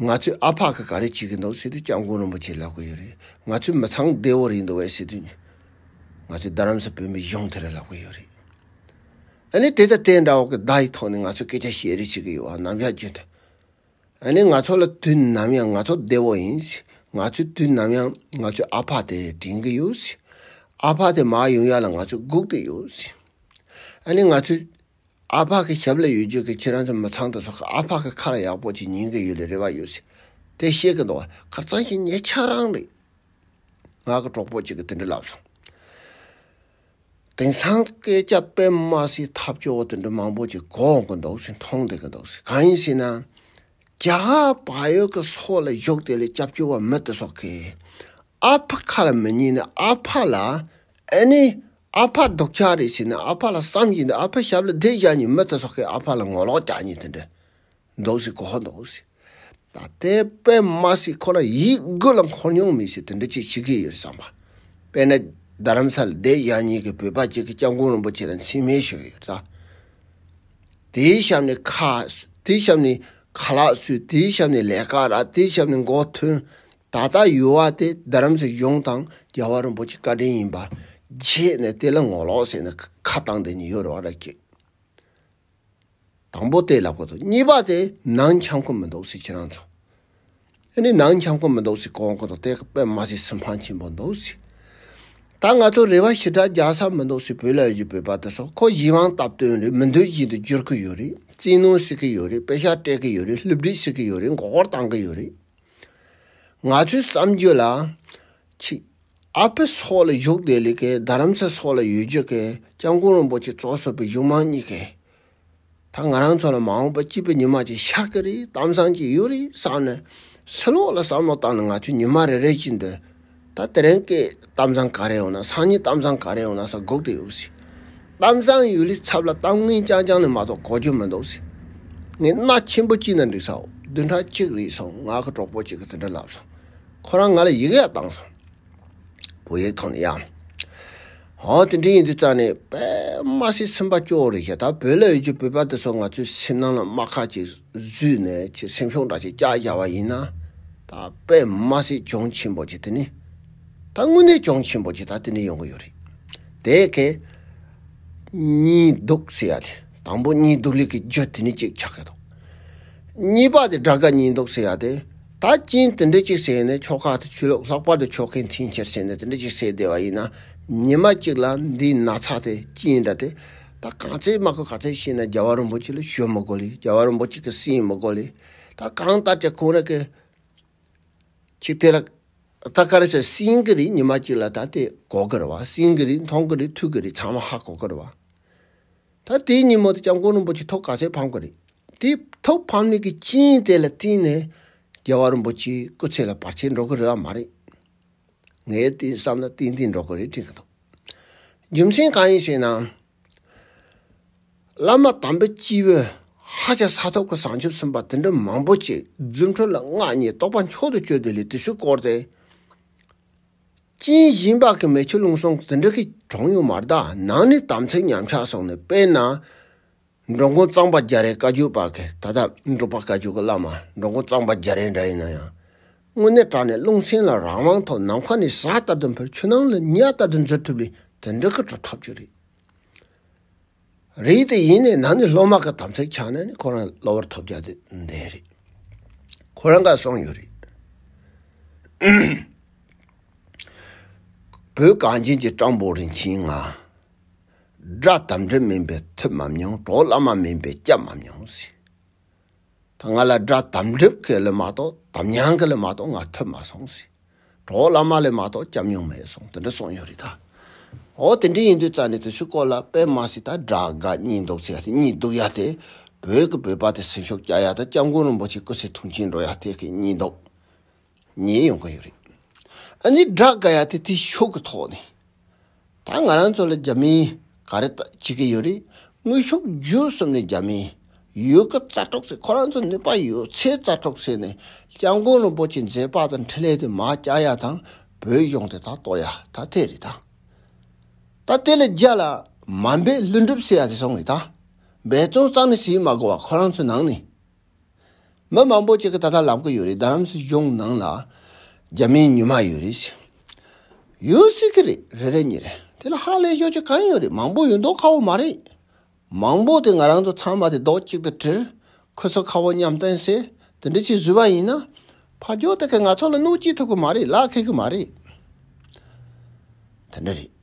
ང་ཚོས་ཨ་ཕ་གི་ག་རེ་བྱེད་གི་འདུག་ཟེར་དུས་སྐྱབས་མགོན་རིན་པོ་ཆེ་ལབ་གི་ཡོད་རེད། ང་ཚོའི་མི་ཚང་བདེ་བོ་རེད་འདུག་བས་ཟེར་དུས། ང་ཚོའི་རྡ་རམ་ས་བོད་མི་གཞུང་དེ་ལ་ལབ་གི་ཡོད་རེད། ཨ་ནི་དེ་དང་དེ་འདྲ་བོ་གི་བརྡ་ཡི་ཐོག་ནས་ང་ཚོས་སྐད་ཆ་བཤད་རེས་བྱེད་གི་ཡོད་བ་ནམ་ཡང་བརྗོད་འདོད། ཨ་ནི་ང་ཚོ་ལ་དུས་ནམ་ཡང་ང་ཚོ་བདེ་བོ་ཡིན། ང་ཚོས་དུས་ནམ་ཡང་ང་ཚོའི་ཨ་ཕ་དེ་དྲན་གི་ཡོད། ཨ་ཕ་དེ་མ་ཡོང་ཡ་ལ་ང་ཚོས་སྒུག་དུ་ཡོད། ཨ་ནི་ང་ཚོས། ཨ་ཕ་གི་ཞབས་ལ་ཡོད་རྒྱུ་གི་ཁྱེད་རང་ཚོ་མི་ཚང་དེ་ཚོ་ཨ་ཕ་གི་ཁ་ལ་ཡག་པོ་གཅིག་ཉན་གི་ཡོད་ལ་རེ་བ་ཡོད་སྲིད་དེ་བཤད་གི་འདུག་ཁར་གཙང་ཞིང་ཉེ་ཆ་རང་རེད། ང་གི་གྲོགས་པོ་གཅིག་གི་དེ་འདྲ་ལབ་སོང། དེང་སང་སྐད་ཆ་སྤེལ་མ་སའི་ཐབས་སྐྱོ་བོ་དེ་འདྲ་མང་པོ་གཅིག་གོ་གི་འདུག་སྲིད་མཐོང་བསྡད་གི་འདུག་སྲིད་གང་ཡིན་སྲིད་ན། རྒྱ་གར་བག་ཡོད་གི་སོག་ལ་བཞུགས་དེ་ལས་སྐྱབས་བཅོལ་བ་མི་དེ་ཚོ་གིས་ཨ་ཕ་ཁ་ལ་མི་ཉན་ནས་ཨ་ཕ་ལ་ཨེ་ནི། ཨ་ཕ་སྡུག་ཆགས་རེད་ཟེར་ནས་ཨ་ཕ་ལ་བསམ་བཞིན་འདུག་ཨ་ཕས་ཞབས་ལ་བསྡད་བཞག་ཉིན་མོ་དེ་སོག་གིས་ཨ་ཕ་ལ་ངོ་ལོག་རྒྱག་ཉིན་དེ་འདྲ་འདུག་ཟེར་གོ་ཧོ་འདུག་ཟེར། ད་ལྟའི་པད་མ་སྲིད་ཁོ་ལ་ཡིད་དགུ་ལ་འཁོར་མྱོང་མི་སྲིད་དེ་འདྲ་ཅིག་བྱེད་ཀྱི་ཡོད་བསམ་པ། དཔེར་ན། རྡ་རམ་ས་ལ་བསྡད་བཞག་ཉིན་གྱི་བོད་པ་གཅིག་གིས་སྐྱབས་མགོན་རིན་པོ་ཆེ་ལ་མཚན་སྨད་ཞུས་ཡོད་ད། དེའི་ཞབས་ནས་ཁ། དེའི་ཞབས་ནས་ཁ་ལག་བསུས་དེའི་ཞབས་ནས་ལས་ཀ་རག་དེའི་ཞབས་ནས་མགོ་ཐོན། ད་ལྟ་ཡོལ་བ་དེ་རྡ་རམ་སའི་གཞུང་དང་རྒྱལ་བ་རིན་པོ་ཆེའི་བཀའ་དྲིན་ཡིན་པ། རྗེས་ནས་དེ་ལ་ངོ་ལོག་ཟེར་ནས་ཁ་བཏང་སྟེ་ནི་ཡོལ་བ་ར་བསྐྱེད། དང་པོ་དེ་ལ་གོ་ཐུབ་གཉིས་པ་དེ་ནང་འཁྱམ་སྐོར་མི་འདུག་སེ་ཁྱེད་རང་ཚོ། ཨེ་ནི་ནང་འཁྱམ་སྐོར་མི་འདུག་སེ་གོ་གོ་ཐུབ་དེ་པད་མ་སེ་སེ་འཕང་ཆེན་པོ་འདུག་སེ། ད་ང་ཚོ་རེ་བ་ཞི་དྲག་རྒྱག་ས་མི་འདུག་སེ་བོད་ལ་ཡོད་པའི་བ་དེ་ཚོ་ཁོ་གཞི་དབང་སྟབས་བསྟུན་རེད་མི་འདོད་བཞིན་དུ་བསྒྱུར་གི་ཡོད་རེད་བཙན་གནོན་བྱེད་ཀི་ཡོད་རེད་དཔེ་ཆ་སྤྲད་ཀི་ཡོད་རེད་བསླུ་བྲིད་བྱེད་ཀི་ཡོད་རེད་མགོ་སྐོར་བཏང་གི་ཡོད་རེད། ང་ཚོའི་བསམ་རྒྱུ་ལ། ཆིག། ཨ་ཕའི་སྲོག་ལ་བཞུགས་བདེ་ལེགས། རྡ་རམ་ས་སྲོག་ལ་ཡོད་རྒྱུ། སྐྱབས་མགོན་རིན་པོ་ཆེ་གཙོ་བཟུང་བའི་གཞུང་མང་གཉིས། ད་ང་རང་ཚོ་ལ་མ་འོངས་པར་སྐྱིད་པའི་ཉི་མ་ཅིག་ཤར་གི་རེད་གཏམ་བཟང་ཅིག་ཡོད་རེད་བསམ་ནས། སི་ལོག་ལ་བསམ་བློ་བཏང་ནས་ང་ཚོས་ཉི་མ་རེ་རེ་བཞིན་དུ། ད་དེ་རིང་གི་གཏམ་བཟང་ག་རེ་ཡོང་ན་སང་ཉིན་གཏམ་བཟང་ག་རེ་ཡོང་ན་ས་སྒུག་ཏུ་ཡོད་ཟེར། གཏམ་བཟང་ཡོད་ལུས་ཚབ་ལ་གཏམ་ངན་རྐྱང་རྐྱང་ལས་མ་གཏོགས་གོ་རྒྱུ་མི་འདུག་ཟེར། ངས་སྣ་ཆེན་པོ་གཅིག་ན་འགྲིག་ས་འོ་བདུན་ཕྲག་གཅིག་རིང་སོང་ང་གི་གྲོགས་པོ་གཅིག་གིས་དེ་འདྲ་ལབ་སོང། ཁོ་རང་ང་ལ་ཡིག་ཡ་བཏང་སོང། བོད་ཡིག་ཐོག་ནས་ཡང། ཧོ་དེ་འདྲ་ཡིན་དུས་རྩ་ནས་པདྨ་སེ་སེམས་དཔའ་སྐྱོ་བོ་རེད་ཤ་ད་བོད་ལ་ཡོད་རྒྱུ་བོད་པ་དེ་ཚོ་ང་ཚོའི་སེམས་ནང་ལ་རྨ་ཁ་ཅིག་བཟོས་ནས་ཁྱེད་སེམས་ཤོག་འདྲ་ཅིག་སྐྱག་རྒྱག་པ་ཡིན་ན། ད་པདྨ་སེ་གྱོང་ཆེན་པོ་ཅིག་དེ་ནི། ད་དངོས་གནས་གྱོང་ཆེན་པོ་ཅིག་ད་དེ་འདྲ་ཡོང་གི་ཡོད་རེད། དེ་གས། གཉིས་སྡུག་ཟེར་ཡ་དེ་དང་པོ་གཉིས་སྡུག་ལེགས་ཀྱི་རྒྱུ་དེ་ནི་གཅིག་ཆགས་ཀྱི་འདུག། གཉིས་པ་དེ་དགྲ་དགའ་གཉིས་སྡུག་ཟེར་ཡ་དེ། ད་ཅིང་དེ་འདྲ་ཅིག་བསད་ནས་ཕྱོགས་ཁག་ཏུ་ཆུ་ལོག་ལྷག་པར་དུ་ཕྱོགས་མཁན་ཐིང་ཁྱེར་བྱས་ནས་དེ་འདྲ་ཅིག་བསད་བསྡད་པ་ཡིན་ན་ཉི་མ་གཅིག་ལ་འདི་ན་ཚ་དེ་ཅི་ཡིན་འདྲ་དེ་ད་གང་ཚེ་སྨྲ་དགོས་ག་ཚེ་ཤི་ན་རྒྱལ་བ་རིན་པོ་ཆེ་ལ་ཞོལ་མི་གོ་ལེ་རྒྱལ་བ་རིན་པོ་ཆེ་གི་སྲིང་མི་གོ་ལེ་ད་གང་ལྟར་ཅི་ཁོང་རེ་གི་ཆིག་དེ་ལ་ད་ག་རེ་ཟེར་སྲིང་གི་རིགས་ཉི་མ་གཅིག་ལ་ད་དེ་གོ་གི་རེད་བ་སྲིང་གི་རིགས་མཐོང་གི་རེད་ཐུག་གི་རེད་ཚང་མ་ཧ་གོ་གི་རེད་བ། ད་ལྟའི་ཉིན་མོ་དེ་སྐྱབས་མགོན་རིན་པོ་ཆེ་ཐོག་ག་ཚད་ཕམ་གི་རེད། དེ་ཐོག་ཕམ་ནས་ཀྱི་ཅིན་དེ་ལ་བརྟེན་ནས་རྒྱལ་བ་རིན་པོ་ཆེའི་སྐུ་ཚེ་ལ་བར་ཆད་འགྲོ་གི་རེད་བ་མ་རེད། ངའི་བསྟན་བསམ་ལ་ཏན་ཏན་འགྲོ་གི་རེད་དྲན་གི་འདུག་རྒྱུ་མཚན་གང་ཡིན་ཞེ་ན། བླ་མ་དམ་པའི་སྤྱི་བོས་ཧ་ཅང་ས་ཐོབ་ཀྱི་བཟང་ཆོས་གསུངས་པ་དེ་འདྲ་མང་པོ་ཅིག་རྫུ་འཕྲུལ་ལ་མངའ་བརྙེས་རྟོགས་པ་མཆོག་ཏུ་སྤྱོད་དེ་ལས་དེ་སུས་བསྐོར་ཏེ། ཅིན་ཞིན་ལྤགས་ཀྱི་མེ་ཆུ་རླུང་སོགས་འདི་འདྲ་གིས་གྲོང་ཡོད་མར་དག་ནང་ནས་དམ་ཚིག་ཉམས་ཆག་སོང་ནས་དཔལ་ནཱ་འགྲོ་མགོན་གཙང་པ་རྒྱ་རའི་བཀའ་བརྒྱུད་ལྤགས་ཀྱི་ད་ལྟ་འབྲུག་པ་བཀའ་བརྒྱུད་ཀྱི་བླ་མ་འགྲོ་མགོན་གཙང་པ་རྒྱ་རའི་འདྲ་ཡིན་ན་ཡང། དངོས་གནས་དྲག་ནས་རླུང་སེང་ལ་རང་དབང་ཐོབ་ནམ་མཁའ་ནས་གཟའ་ལྟར་དུ་འཕེལ་ཆུ་ནང་ལ་ཉྭ་ལྟར་དུ་འཛུལ་ཐུབ་ལས་དེ་འདྲ་གི་གྲུབ་ཐོབ་ཅིག་རེད། རེད་དེ་ཡིན་ནའི་ནང་ནས་སློབ་མ་ག་དམ་ཚིག་ཆག་ན་ནི་ཁོ་རང་གློ་བུར་ཐོབ་རྒྱག་དེ་འདས་རེད། ཁོ་རང་ག་སོང་ཡོད་རེད། བོད་གངས་ཅན་གྱི་སྤྲང་པོ་རིན་ཆེན་ང། དགྲ་དམ་འདྲེ་མིན་པའི་ཐུབ་མམ་མྱོང་གྲོགས་བླ་མ་མིན་པའི་སྐྱབས་མམ་མྱོང། ད་ང་ལ་དགྲ་དམ་སྒྲིབ་ཀྱི་ལས་མ་གཏོགས་དམ་ཉམས་ཀྱི་ལས་མ་གཏོགས་ང་ཐོས་མ་སོང་ཟེར། གྲོགས་བླ་མ་ལས་མ་གཏོགས་སྐྱབས་མྱོང་མེད་སོང་དེ་འདྲ་གསུངས་ཡོད་རེད་ད། འོ་དེ་འདྲ་ཡིན་དུས་རྩ་ནས་དེ་ཚོའི་སྐོར་ལ་དཔེ་མ་ཟིག་ད་དགྲ་དགའ་གཉིས་འདུག་ཚེ་ཡ་གཉིས་འདུག་ཡ་དེ་བོད་ཀྱི་བོད་པ་དེ་སེམས་ཤུགས་བསྐྱ་ཡ་ད་སྐྱབས་མགོན་རིན་པོ་ཆེ་སྐུ་ཚེ་ཐུང་ཆེན་འགྲོ་ཡ་དེ་གཉིས་འདུག། ཉན་ཡོང་གི་ཡོད་རེད། ཨ་ནི་བསྒྲགས་དཀའ་ཡ་དེ་དེ་ཕྱོགས་ཀྱི་ཐོག་ནས། ད་ང་རང་ཚོ་ལ་རྒྱ་མིས་ག་རེ་བྱེད་ཀྱི་ཡོད་རེད་དངོས་ཤུགས་བརྒྱུད་གསུམ་ནས་རྒྱ་མིས་ཡོད་དཀའ་རྩ་གྲོགས་ཚེ་ཁོ་རང་ཚོ་ནུས་པ་ཡོད་ཚད་རྩ་གྲོགས་ཚེ་ནས་སྐྱབས་མགོན་རིན་པོ་ཆེ་མཛད་པ་དང་འཕྲིན་ལས་དེ་མ་བསྐྱལ་ཡ་དང་བོད་གཞུང་དེ་ད་གཏོར་ཡ་ད་དེ་རེད་ད། ད་དེ་ལ་རྒྱ་ལ་མ་འབད་ལྷུན་གྲུབ་ཟེར་ཡ་དེ་སོང་ངེ་ད། འབད་བརྩོན་གཙང་ནས་བྱེད་མ་དགོས་བ་ཁོ་རང་ཚོའི་ནང་ནས་མི་མང་པོ་ཅིག་གིས་ད་ལྟ་ལབ་ཀི་ཡོད་རེད་རྡ་རམ་ས་གཞུང་ནང་ལ་རྒྱ་མིའི་ཉུལ་མ་ཡོད་རེད། ཡོད་སྲིད་ཀི་རེད་རེ་རེ་གཉིས་རེད་དེ་ལ་ཧ་ལས་ཤོག་ཅིག་གང་ཡོད་རེད་མང་པོ་ཡོད་མདོག་ཁ་བོ་མ་རེད། མང་པོ་དེ་ང་རང་ཚོ་ཚང་མ་དེ་རྡོག་གཅིག་ཏུ་དྲིལ་ཁོ་ཚོ་ཁ་བོ་མཉམ་བསྟན་སྲིད་དེ་འདྲི་ཆེད་བཟོས་པ་ཡིན་ན། ཕ་རྒྱོ་དེ་གས་ང་ཚོ་ལ་གནོད་སྐྱིད་ཐུབ་ཀི་མ་རེད་ལག་ཁེལ་ཀི་མ་རེད། དེ་འདྲ་རེད།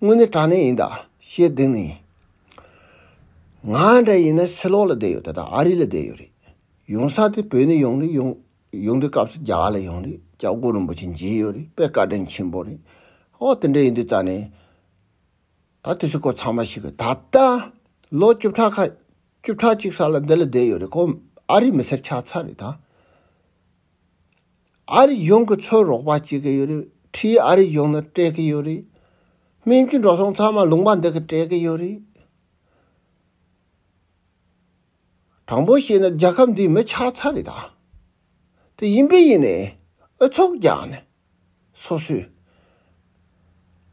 དངོས་གནས་དྲང་གནས་ཡིན་དཱ་ཞེས་བསྡིགས་ནས། ང་འདྲ་ཡིན་ན་སི་ལོག་ལ་བསྡད་ཡོད་དཱ་དང་ཨ་རི་ལ་བསྡད་ཡོད་རེད། ཡོང་ས་དེ་བོད་ནས་ཡོང་རེད་ཡོང། ཡོང་དུས་སྐབས་སུ་རྒྱ་གར་ལ་ཡོང་རེད་སྐྱབས་མགོན་རིན་པོ་ཆེ་མཇལ་ཡོད་རེད་པས་བཀའ་དྲིན་ཆེན་པོ་རེད། ཨོ་དེ་འདྲ་ཡིན་དུས་རྩ་ནས། ད་དུས་ཚོད་སྐོར་ཚང་མ་ཞིག་གི་ད་ལྟ། ལོ་བཅུ་ཕྲག་ཁ། བཅུ་ཕྲག་གཅིག་ས་ལ་འདི་ལ་བསྡད་ཡོད་རེད་ཁོ་ཨ་རི་མི་སེར་ཆགས་ཚར་རེད་དཱ། ཨ་རི་གཞུང་གིས་ཚོད་རོགས་པ་བྱེད་ཀྱི་ཡོད་རེད་ཁྲིའི་ཨ་རི་གཞུང་ནི་སྤྲད་ཀྱི་ཡོད་རེད། སྨན་བཅོས་འགྲོ་སོང་ཚང་མ་ལུང་པ་འདི་གིས་སྤྲད་ཀྱི་ཡོད་རེད། དྲང་པོ་བཤད་ན་རྒྱལ་ཁབ་འདིའི་མི་ཆགས་ཚར་རེད་ད། དེ་ཡིན་པས་ཡིན་ནའི་ཨུ་ཚུགས་རྒྱག་ནས་སོ་སོས།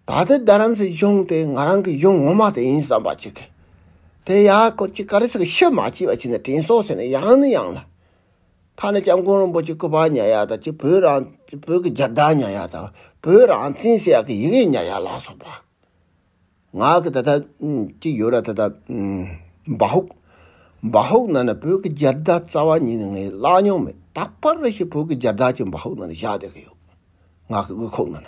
ད་ལྟའི་རྡ་རམ་སའི་གཞུང་དེ་ང་རང་གི་གཞུང་ངོ་མ་དེ་ཡིན་བསམ་པ་ཅིག་གིས། དེ་ཡ་ཁོ་ཅི་ཀ་རེ་ཟིག་ཤི་མ་བྱས་པ་ཅིག་ནི་དྲན་སོང་ཟེར་ནས་ཡང་ནི་ཡང་ལ། ཐ་ན་སྐྱབས་མགོན་རིན་པོ་ཆེ་སྐུ་པར་ཉལ་ཡག་དང་ཅི་བོད་རང་བོད་ཀྱི་རྒྱལ་དར་ཉལ་ཡག་དང་བོད་རང་བཙན་ཟེར་ཡག་གི་ཡི་གེ་ཉལ་ཡག་ལ་སོགས་པ། ང་གི་ད་ཐག་ཅིག་ཡོད་ར་ད་ད། འབའ་ཧུག། འབའ་ཧུག་ནང་ན་བོད་ཀྱི་སྦྱར་བརྡ་རྩ་བ་ཉིད་ནས་ངས་བཀླགས་མྱོང་མེད་ད་པར་རེ་ཞིག་བོད་ཀྱི་སྦྱར་བརྡ་གཅིག་འབའ་ཧུག་ནང་ན་བཞག་བསྡད་ཀྱི་ཡོད། ངག་གི་དབུས་ཁུག་ནང་ན།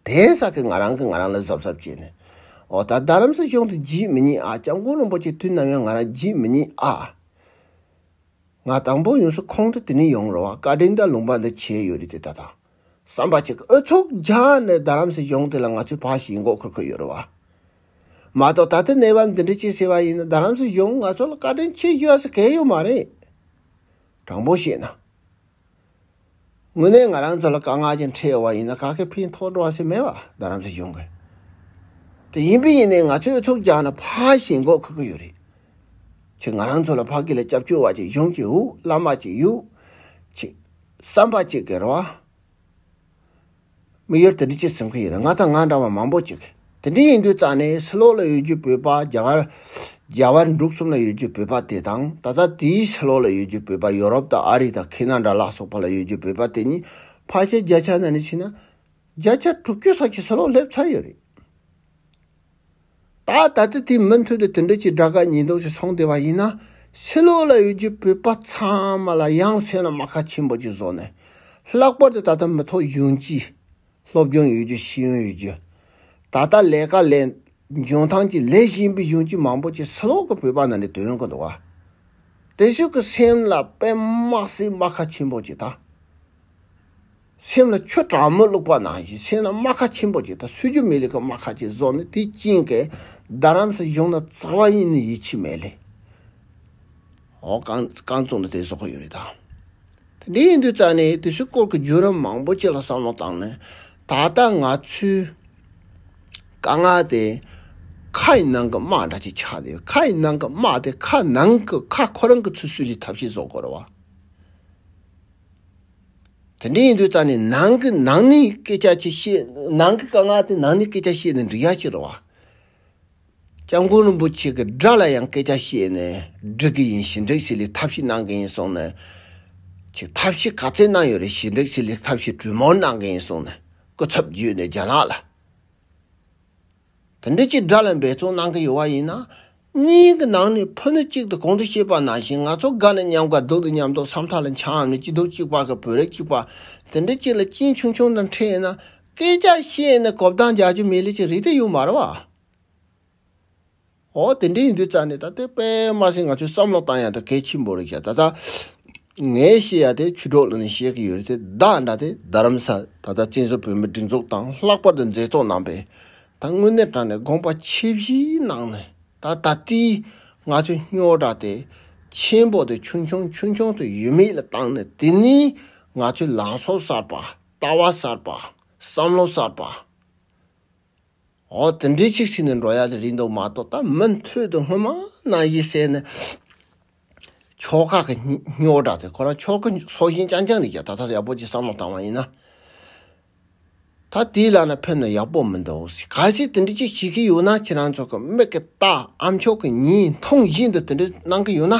དེའི་ས་ཀྱི་ང་རང་གིས་ང་རང་ལ་གཟབ་གཟབ་བྱས་ནས། ཨོ་ད་རྡ་རམ་ས་གཞུང་དུ་བརྗེད་མི་ཉན་ཨ་སྐྱབས་མགོན་རིན་པོ་ཆེ་དུས་ནམ་ཡང་ང་རང་བརྗེད་མི་ཉན་ཨ། ང་དང་པོ་ཡོངས་སུ་ཁོང་དུ་དེ་ནས་ཡོང་རོགས་བཀའ་དྲིན་དང་ལུང་པ་འདི་བྱས་ཡོད་རེད་དེ་ད་ད། བསམ་པ་གཅིག་ཨུ་ཚུགས་རྒྱག་ནས་རྡ་རམ་སེ་གཞུང་དེ་ལ་ང་ཚོས་ཕག་ཞིག་མགོ་འཁོར་གི་ཡོད་རེད་བ། མ་གཏོགས་ད་ལྟ་གནས་བབ་འདི་འདྲ་བྱས་ཟེར་བ་ཡིན་ན་རྡ་རམ་སེ་གཞུང་ང་ཚོ་ལ་བཀའ་དྲིན་ཆེ་ཞུ་བ་སུ་གལ་ཡོད་མ་རེད། དྲང་པོ་བཤད་ན། དངོས་གནས་ང་རང་ཚོ་ལ་དཀའ་ངལ་ཅན་འཕྲད་ཡོང་བ་ཡིན་ན་ག་གེ་ཕིན་ཐོག་འགྲོ་བ་སུ་མེད་བ་རྡ་རམ་སེ་གཞུང་གི། དེ་ཡིན་པས་ཡིན་ནའི་ང་ཚོས་ཨུ་ཚུགས་རྒྱག་ནས་ཕག་ཞིག་མགོ་འཁོར་གི་ཡོད་རེད། ཁྱེད་ང་རང་ཚོ་ལ་ཕག་གི་ལ་སྐྱབས་བཅོལ་བ་ཅིག་གཞུང་གི་ཨུ་བླ་མ་ཅིག་ཡོད་ཕྱིན། བསམ་པ་གཅིག་གི་རེ་བ། མི་ཡུལ་དེ་འདྲི་ཅི་ཟེར་མཁན་ཡོད་རེད་ང་དང་ང་འདྲ་བ་མང་པོ་ཅིག་དེ་འདྲི་ཡིན་དུས་རྩ་ནས་སི་ལོག་ལ་ཡོད་རྒྱུ་བོད་པ་རྒྱ་གར། རྒྱ་བལ་འབྲུག་གསུམ་ལ་ཡོད་རྒྱུ་བོད་པ་དེ་དང་ད་ལྟ་དེའི་སི་ལོག་ལ་ཡོད་རྒྱུ་བོད་པ་ཡོ་རོབ་དང་ཨ་རི་དང་ཁེ་ན་འདྲ་ལ་སོགས་པ་ལ་ཡོད་རྒྱུ་བོད་པ་དེ་གཉིས་ཕ་ཆ་རྒྱ་ཆ་ན་ནས་ཕྱིན་ན། བརྒྱ་ཆ་དྲུག་ཅུ་ས་ཆའི་སི་ལོག་སླེབས་ཚར་ཡོད་རེད། ད་ལྟ་དེ་དེའི་མུ་མཐུད་དུ་དེ་འདྲ་གྱི་དགྲ་དགའ་ཉེས་འདོགས་ཀྱི་ཚོང་སྡེ་བ་ཡིན་ན་ཕྱི་ལོགས་ལ་ཡོད་ཀྱི་བོད་པ་ཚང་མ་ལ་ཡང་མཚན་ལ་རྨ་ཁ་ཆེན་པོ་གཅིག་བཟོ་ནས་ལྷག་པར་དུ་ད་ལྟ་མི་ཐོག་གཞོན་སྐྱེས། སློབ་སྦྱོང་ཡོད་རྒྱུ་ཤེས་ཡོན་ཡོད་རྒྱུ། ད་ལྟ་ལས་ཀ་ལས་འཇོན་ཐང་གྱི་ལས་བཞིན་པའི་གཞོན་སྐྱེས་མང་པོ་ཅིག་ཕྱི་ལོགས་ཀྱི་བོད་པ་ནང་ནས་དོན་གྱི་འདུག་བ་དེ་ཤུགས་ཀྱི་སེམས་ལ་དཔེ་དམག་སེ་རྨ་ཁ་ཆེན་པོ་གཅིག་ད། སེམས་ལ་ཆུ་གྲང་མོ་བླུགས་པ་ནང་བཞིན་སེམས་ལ་རྨ་ཁ་ཆེན་པོ་གཅིག་དང་སུལ་ཆུ་མི་ལེགས་ཀྱི་རྨ་ཁ་གཅིག་བཟོ་ནས་དེ་བཅིངས་ཀྱི་རྡ་རམ་ས་གཞུང་ན་རྩ་བ་གཉིས་ནི་ཡིད་ཆེས་མེད་ལས། འོ་གང་གང་བཙུགས་ནས་དེ་བཟོ་གི་ཡོད་རེད་དམ། དེ་འདྲ་ཡིན་དུས་རྩ་ནས་དེ་ཚོའི་སྐོར་གྱི་བརྒྱུད་རིམ་མང་པོ་གཅིག་ལ་བསམ་བློ་བཏང་ནས་ད་ལྟ་ང་ཚོའི་དཀའ་ངལ་དེ་ཁ་ཡི་ནང་གི་རྨ་འདྲ་ཅིག་ཆགས་བསྡད་ཡོད་ཁ་ཡི་ནང་གི་རྨ་དེ་ཁ་ནང་གི་ཁ་ཁོ་རང་གི་ཚུལ་སུལ་གྱི་ཐབས་ཤེས་བཟོ་དགོས་རེད་བ། དེ་འདྲ་ཡིན་དུས་ད་ནི་ནང་གི་ནང་ནས་སྐད་ཆ་ཆེ་ཤེས་ནང་གི་དཀའ་ངལ་དེ་ནང་ནས་སྐད་ཆ་བཤད་ནས་འགྲིག་ཡ་ཤི་རོ། སྐྱབས་མགོན་རིན་པོ་ཆེ་གི་སྒྲ་ལ་ཡང་སྐད་ཆ་བཤད་ནས་འགྲིག་གི་ཡིན་ཞི་འགྲིག་སི་ལི་ཐབས་ཤེས་གནང་གི་ཡིན་གསུང་ནས། ཆེ་ཐབས་ཤེས་ག་ཚད་གནང་ཡོད་རེད་ཞི་འགྲིག་སི་ལི་ཐབས་ཤེས་གྲུས་མོར་གནང་གི་ཡིན་གསུང་ནས་སྐུ་ཚབ་བརྒྱུད་ནས་རྒྱ་ནག་ལ། དེ་འདྲ་ཅིག་དགྲ་ལ་འབད་བརྩོན་གནང་གི་ཡོད་བ་ཡིན་ན། གཉིས་ཀྱི་ནང་ནས་ཕུ་ནུ་གཅིག་ཏུ་གོང་དུ་བཤད་པ་ནང་བཞིན་ང་ཚོ་དགའ་ནས་མཉམ་དགའ་སྡུག་ཏུ་མཉམ་སྡུག་སམ་མཐའ་ལ་འཕྱང་འམ་ནི་སྐྱིད་སྡུག་གཅིག་པ་གི་བུ་རེག་གཅིག་པ་དེ་འདྲ་ཅིག་ལ་གཅིན་ཆུང་ཆུང་དང་འཕྲད་ན་སྐད་ཆ་བཤད་ནས་གོ་བརྡ་འཇགས་རྒྱུ་མི་ལས་ཅི་རིགས་དེ་ཡོད་མ་རེད་བ། ཨོ་དེ་འདྲ་ཡིན་དུས་རྩ་ནས་ད་ལྟའི་པདྨ་སེང་ང་ཚོས་བསམ་བློ་བཏང་ཡག་ཐབས་གལ་ཆེན་པོ་རེད་བྱ་ད་ལྟ་ངས་བཤད་ཡག་དེ་ཆུ་གྲོགས་ལ་ནས་བཤད་གི་ཡོད་རེད་དེ་བདག་འདྲ་དེ་རྡ་རམ་ས་ད་ལྟ་བཙན་བཟུང་བོད་མི་སྒྲིག་འཛུགས་དང་ལྷག་པར་དུ་མཛད་གཙོ་གནང་པས་ད་དངོས་གནས་དྲང་ནས་དགོངས་པ་ཆེ་བཞི་གནང་ནས་ད་ད་ལྟའི་ང་ཚོའི་སྨྱོ་དྲག་དེ་ཆེན་པོ་དེ་ཆུང་ཆུང་ཆུང་ཆུང་དུ་ཡོད་མེད་ལ་བཏང་ནས་དེ་ནས་ང་ཚོའི་ལང་ཚོ་གསར་པ་ལྟ་བ་གསར་པ་བསམ་བློ་གསར་པ། འོ་དེ་འདྲའི་ཆིག་ཆིག་ནས་འགྲོ་ཡག་ལས་རིགས་འདུག་མ་གཏོགས་ད་མུ་མཐུད་དུ་སྔོན་མ་ན་ཡི་བསད་ནས་ཕྱོགས་ཁག་གི་སྨྱོ་དྲགས་དེ་ཁོ་རང་ཕྱོགས་ཀྱི་སྲོག་ཤིང་རྐྱང་རྐྱང་རེད་ཀྱང་ད་ལྟ་ཡག་པོ་ཅིག་བསམ་བློ་བཏང་བ་ཡིན་ན། ད་དེའི་ལག་ན་ཕེབས་ན་ཡག་པོ་མི་འདུག་གཟིགས་ག་ཞིག་དེ་འདྲའི་ཅིག་བྱེད་ཀྱི་ཡོད་ན་ཁྱེད་རང་ཚོ་གི་མིག་གི་ལྟ་ཨ་མཆོག་གི་མྱིའི་མཐོང་བཞིན་དུ་དེ་འདྲ་གནང་གི་ཡོད་ན།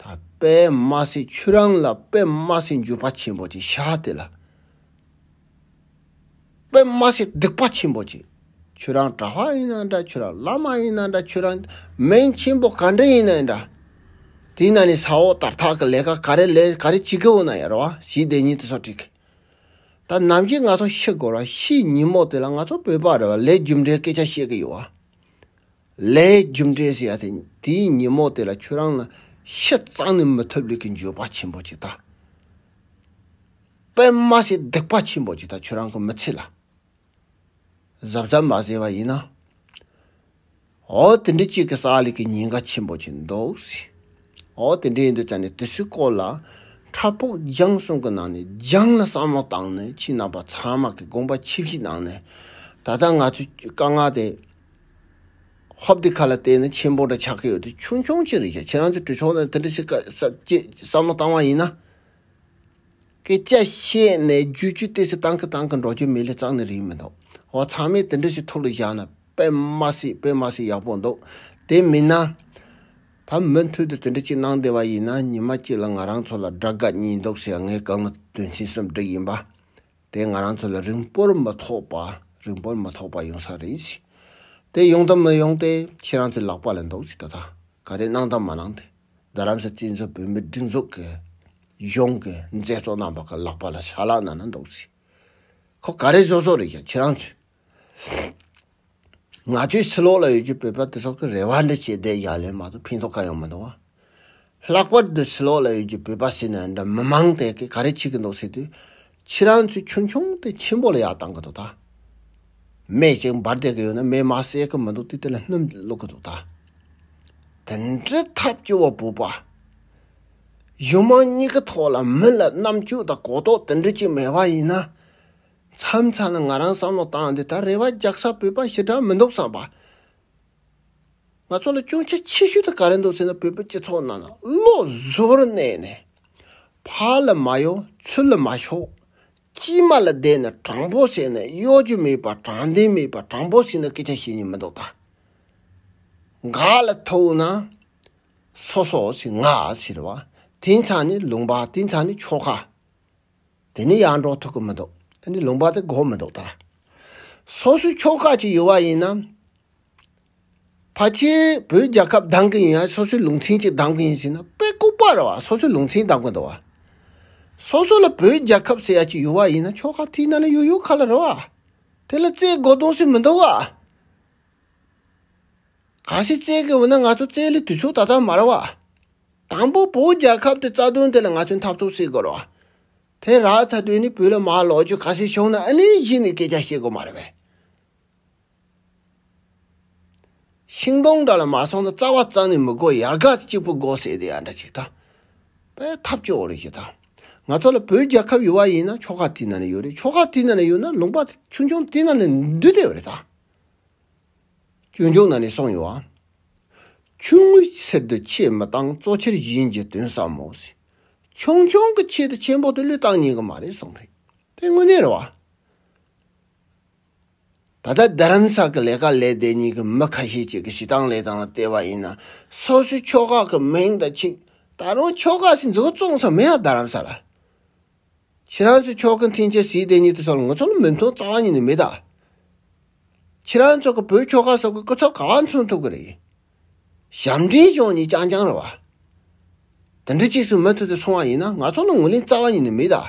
ད་པདྨ་སེ་ཁྱོད་རང་ལ་པདྨ་སེ་འགྱོད་པ་ཆེན་པོ་ཅིག་ཤཱ་དེ་ལ། པདྨ་སེ་སྡིག་པ་ཆེན་པོ་ཅིག་ཁྱོད་རང་གྲྭ་བ་ཡིན་ན་འདྲ་ཁྱོད་རང་བླ་མ་ཡིན་ན་འདྲ་ཁྱོད་རང་མིང་ཆེན་པོ་ག་འདྲ་ཡིན་ན་འདྲ། དེ་ན་ནི་ས་འོག་ལྟར་ཐག་གི་ལས་ཀ་ག་རེ་ལས་ག་རེ་བྱེད་ཀི་འོ་ན་ཡར་བ་ཞེས་བདེན་གཉིས་ཏེ་སོགས་དྲིས། ད་ནམ་གྱི་ང་ཚོ་ཤི་འགོར་བ་ཕྱིའི་ཉིན་མོ་དེ་ལ་ང་ཚོ་བོད་པ་རེ་བ་ལས་རྒྱུ་འབྲས་སྐད་ཆ་བཤད་ཀི་ཡོད་བ། ལས་རྒྱུ་འབྲས་སུ་ཡ་དེ་དེའི་ཉིན་མོ་དེ་ལ་ཁྱོད་རང་ལ་ཤི་གཙང་ནས་མི་ཐུབ་ལས་ཀྱི་འགྱོད་པ་ཆེན་པོ་ཅིག་དང། པད་མ་སེར་སྡིག་པ་ཆེན་པོ་ཅིག་དང་ཁྱོད་རང་གི་མི་ཚེ་ལ་གཟབ་གཟབ་མ་བཟས་པ་ཡིན་ན། འོ་དེ་འདྲའི་ཅིག་གི་ས་ལས་ཀྱི་ཉེན་ཁ་ཆེན་པོ་ཅིག་འདུག་ཟེར། འོ་དེ་འདྲའི་ཡིན་དུས་ད་ནི་དུས་ཚོད་སྐོར་ལ་ཁྲ་ཕུག་རྒྱང་གསུམ་གྱི་ནང་ནས་རྒྱང་ལ་བསམ་བློ་བཏང་ནས་ཕྱི་ནང་པ་ཚང་མ་གི་དགོངས་པ་ཆིབས་ཆིབས་གནང་ནས་ད་ལྟ་ང་ཚོས་དཀའ་ངལ་དེ་ཧོབ་དེ་ཁ་ལ་བལྟས་ན་ཆེན་པོ་འདྲ་ཆགས་ཀྱི་ཡོད་དུས་ཆུང་ཆུང་ཅིག་རེད་ཤག་ཁྱེད་རང་ཚོས་བྲོས་ཆོག་ན་དེ་འདྲ་བྱེད་དཀའ་སབ་ཅེས་བསམ་བློ་བཏང་བ་ཡིན་ན། སྐད་ཆ་བཤད་ནས་རྒྱུས་བཅུད་བསྟེན་སའི་ཏང་གི་ཏང་གི་འགྲོ་རྒྱུ་མི་ལས་གཙང་ནི་རིགས་མི་འདུག་བ་ཚང་མས་དེ་འདྲ་ཞིག་ཐུགས་ལ་བཞག་ན་དཔེ་མ་སྲིད་དཔེ་མ་སྲིད་ཡག་པོ་འདུག་དེ་མིན་ན། ད་མུ་མཐུད་དུ་དེ་འདྲ་ཅིག་གནང་བདེ་བ་ཡིན་ན་ཉི་མ་གཅིག་ལ་ང་རང་ཚོ་ལ་དགྲ་དགའ་གཉིས་འདུག་ཟེར་ངའི་དགའ་ངུ་དོན་ཚན་གསུམ་བསྒྲིགས་ཡིན་པ། དེས་ང་རང་ཚོ་ལ་རིང་པོར་མ་ཐོགས་པ་རིང་པོར་མ་ཐོགས་པ་ཡོང་ས་རེད། དེ་ཡོང་དང་མི་ཡོང་དེ་ཁྱེད་རང་ཚོའི་ལག་པ་ལས་འདུག་ཅིག་ད་ལྟ་ག་རེ་གནང་དང་མ་གནང་དེ་རྡ་རམ་ས་སྐྱིད་མཚོ་བོད་མི་སྒྲིག་འཛུགས་ཀྱི་གཞུང་གི་མཛད་གཙོ་རྣམ་པ་གི་ལག་པ་ལ་ཞག་ལག་ན་ན་འདུག་ཅིག་ཁོ་ག་རེ་བཟོ་བཟོ་རེད་ཀྱང་ཁྱེད་རང་ཚོས། ང་ཚོའི་ཕྱི་ལོགས་ལ་ཡོད་ཀྱི་བོད་པ་དེ་དག་གི་རེ་བ་འདི་བྱས་བསྡད་བཞག་ལས་མ་གཏོགས་ཕན་ཐོགས་གང་ཡང་མི་འདུག་བ། ལྷག་པར་དུ་ཕྱི་ལོགས་ལ་ཡོད་ཀྱི་བོད་པ་ཟེར་ནས་འདྲ་མི་མང་དེ་གས་ག་རེ་བྱེད་ཀྱི་འདུག་ཟེར་དུས། ཁྱེད་རང་ཚོས་ཆུང་ཆུང་དེ་ཆེན་པོ་ལ་ཡག་བཏང་གི་འདུག་ད། མེ་ཅིག་འབར་བསྡད་ཀྱི་ཡོད་ན་མེ་མ་བསད་ཀྱི་མི་འདུག་དུས་དེ་ལ་སྣུམ་བླུག་གི་འདུག་ད། དེ་འདྲའི་ཐབས་སྐྱོ་བ་བོད་པ། གཞུང་མང་གཉིས་ཀྱི་ཐོག་ལ་མི་ལ་རྣམ་དཔྱོད་དང་གོ་རྟོགས་དེ་འདྲ་གཅིག་མེད་པ་ཡིན་ན། མཚམས་མཚམས་ལ་ང་རང་བསམ་བློ་བཏང་འདི་ལྟར་རེ་བ་རྒྱག་ས་བོད་པ་ཞི་དྲག་མི་འདུག་བསམ་པ། ང་ཚོ་ལ་ཅུང་ཆ་ཆེ་ཤོས་དེ་ག་རེ་འདུག་ཟེར་ན་བོད་པའི་སྤྱི་ཚོགས་ནང་ན་བློ་གཟུར་གནས་ནས། ཕ་ལ་མ་གཡོ་ཚུལ་ལ་མ་ཞོག། སྐྱིད་མ་ལ་བསྡད་ནས་དྲང་པོ་བྱས་ནས་གཡོ་སྒྱུ་མེད་པ་དྲང་བདེན་མེད་པ་དྲང་པོ་བྱས་ན་སྐད་ཆ་བྱེད་ཉེན་མི་འདུག་ད། འགག་ལ་ཐུག་ན། སོ་སོ་ཞིག་ང་ཟེར་བ་དེ་མཚམས་ནི་ལུང་པ་དེ་མཚམས་ནི་ཆོལ་ཁ། དེ་ནི་ཡར་འགྲོ་ཐུག་གི་མི་འདུག་དེ་ནི་ལུང་པ་དེ་གོ་མི་འདུག་ད། སོ་སོའི་ཕྱོགས་ཁག་ཅིག་ཡོད་པ་ཡིན་ན། ཕ་ཆེ་བོད་རྒྱལ་ཁབ་སྡང་གི་ཡིན་ཡང་སོ་སོའི་ལུང་ཚན་ཅིག་སྡང་གི་ཡིན་ཟེར་ན་དཔེ་ལྐུག་པ་རེད་བ་སོ་སོའི་ལུང་ཚན་སྡང་གི་འདུག་བ། སོ་སོ་ལ་བོད་རྒྱལ་ཁབ་ཟེར་ཡ་ཅིག་ཡོད་བ་ཡིན་ན་ཕྱོགས་ཁག་དེའི་ནང་ལ་ཡོད་ཡོད་ག་ལ་རེད་བ། དེ་ལ་རྩེད་དགོ་གཏོང་སྲིད་མི་འདུག་བ། གང་ཞིག་བཙལ་དགོས་བ་ན་ང་ཚོ་བཙལ་ལེ་དུས་ཚོད་ད་ལྟ་མ་ར་བ། དང་པོ་བོད་རྒྱལ་ཁབ་དེ་རྩ་དོན་དེ་ལ་ང་ཚོས་འཐབ་རྩོད་བྱེད་དགོས་ར་བ། དེ་རག་ཚ་དུས་ནི་བོད་ལ་མ་ལོག་རྒྱུ་ག་ཞིག་བྱུང་ན་ཨ་ནི་གཞི་ནས་སྐད་ཆ་བཤད་དགོས་མ་ར་བས། ཤིང་སྡོང་འདྲ་ལ་མ་སོང་ན་རྩ་བ་རྩ་ནས་མི་དགོས་ཡར་དགའ་གཅིག་པུ་དགོས་ཟེར་དེ་ཡར་འདྲ་ཅིག་དང། པའི་འཐབ་རྩོད་འོག་རེད་ཅིག་དང། ང་ཚོ་ལ་བོད་རྒྱལ་ཁབ་ཡོད་བ་ཡིན་ན་ཆོལ་ཁ་དེ་ན་ནས་ཡོད་རེད་ཆོལ་ཁ་དེ་ན་ནས་ཡོད་ན་ལུང་པ་ཆུང་ཆུང་དེ་ན་ནས་འདུས་བསྡད་བ་རེད་དང། སྐྱོན་བྱུང་ན་ནི་སོང་ཡོང་བ། ཆུང་ངུའི་ཕྱིར་དུ་ཆེས་མི་བཏང་གཙོ་ཆེར་གཞན་གྱི་དོན་བསམ་མོ། ཆུང་ཆུང་གི་ཆེད་དུ་ཆེན་པོ་དེ་ལུས་བཏང་ཉན་གི་མ་རེད་གསུངས་པ་རེད། དེ་དངོས་གནས་རེད་བ། ད་ལྟ་རྡ་རམ་ས་གི་ལས་ཀ་ལས་བདེ་གཉིས་ཀྱི་མི་ཁ་ཤས་ཅིག་གི་བྱེད་སྟངས་ལས་དང་ལ་བལྟས་པ་ཡིན་ན་སོ་སོའི་ཕྱོགས་ཁག་གི་མིང་དང་ཆིག་ད་རུང་ཕྱོགས་ཁག་སི་འཛུགས་བཙོང་ས་མེད་ཡ་རྡ་རམ་ས་ལ། ཕྱི་རང་ཚོའི་ཕྱོགས་ཀྱི་འཐེན་འཁྱེར་ཟིའི་སྡེ་གཉིས་དེ་སོགས་ལ་ངོ་ཚ་ལ་མི་མཐོང་རྩ་བ་ཉིད་ནས་མི་གདའ། ཁྱེད་རང་ཚོ་གི་བོད་ཁྱོ་ག་སོགས་ཀྱི་སྐུ་ཚབ་ག་བ་མཚོན་ཐུབ་ཀྱི་རེད། ཞབས་འདྲེན་ཅོང་གཉིས་རྐྱང་རྐྱང་རེད་བ། དེ་འདྲ་གཅིག་གསུང་མི་ཐུབ་དེ་སོང་བ་ཡིན་ན་ང་ཚོ་ལ་ངོས་ལེན་རྩ་བ་ཉིད་ནས་མི་གདའ།